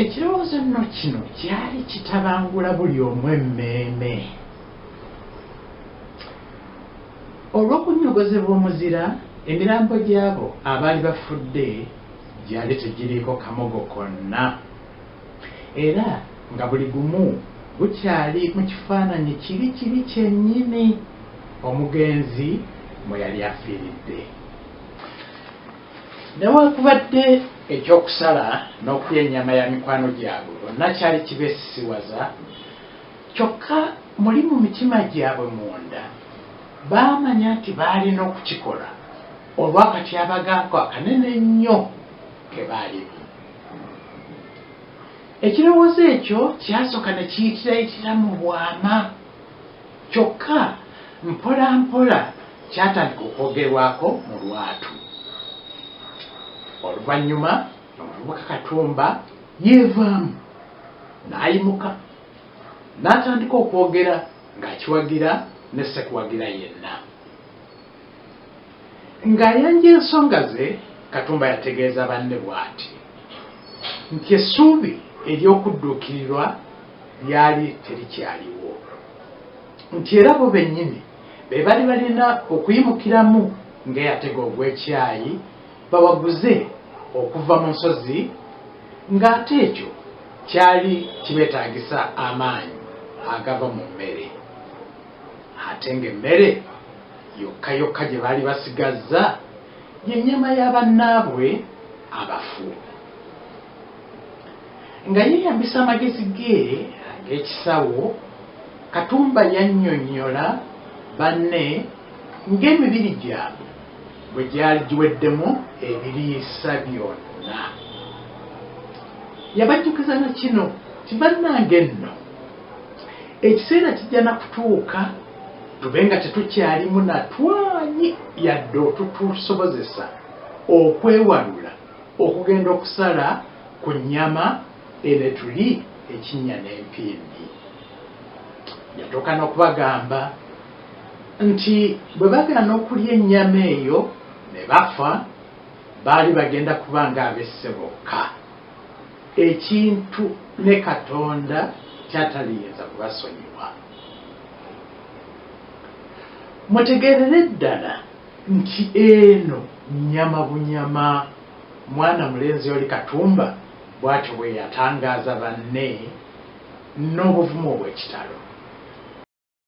ekirowoozo nno kino kyali kitabangula buli omu emmeeme olw'okunyogozebwa omuzira emirambo gy'abo abaali bafudde gyali tegiriiko kamogo konna Era nga buli gumu gukyali mu kifaananyi kiri kiri kyennyini omugenzi mwe yali afiiridde. Newakubadde eky'okusala n'okulya ennyama ya mikwano gyabwe bonna kyali kibeesisiwaza, kyokka muli mu mitima gyabwe munda baamanya nti baalina okukikola olw'akatyabaga ako akanene ennyo ke baalimu. Ekirowoozo ekyo kyasooka ne kiyitirayitira mu bwama, kyokka mpolampola kyatandika okwogerwako mu lwatu. Oluvannyuma omuvubuka Katumba yeevaamu n'ayimuka n'atandika okwogera ng'akiwagira ne sekuwagira yenna. Ng'ayanja ensonga ze, Katumba yategeeza banne bwati nti essuubi ery'okudduukirirwa lyali terikyaliwo nti era bo bennyini be bali balina okuyimukiramu ng'eyatega ogw'ekyayi bawaguze okuva mu nsozi ng'ate ekyo kyali kibeetaagisa amaanyi agava mu mmere ate ng'emmere Yokka yokka gye baali basigazza ye nnyama ya bannaabwe abafu. Nga yeeyambisa amagezi ge ag'ekisawo, Katumba yannyonnyola banne ng'emibiri gyabwe bwe gyali giweddemu ebiriisa byonna. Yabajjukiza na kino nti, Bannange nno! Ekiseera kijja na kutuuka tube nga tetukyalimu na twanyi yadde otutusobozesa okwewalula okugenda okusala ku nnyama eno etuli ekinnya n'empindi. Yatuuka n'okubagamba nti bwe bagaana okulya ennyama eyo ne bafa, baali bagenda kuba ng'abesse bokka. Ekintu ne Katonda kyataliyinza kubasonyiwa. Mutegeerere ddala nti eno nnyama bunyama, mwana mulenzi oli Katumba bwatyo bweyatangaaza banne n'obuvumu obw'ekitalo.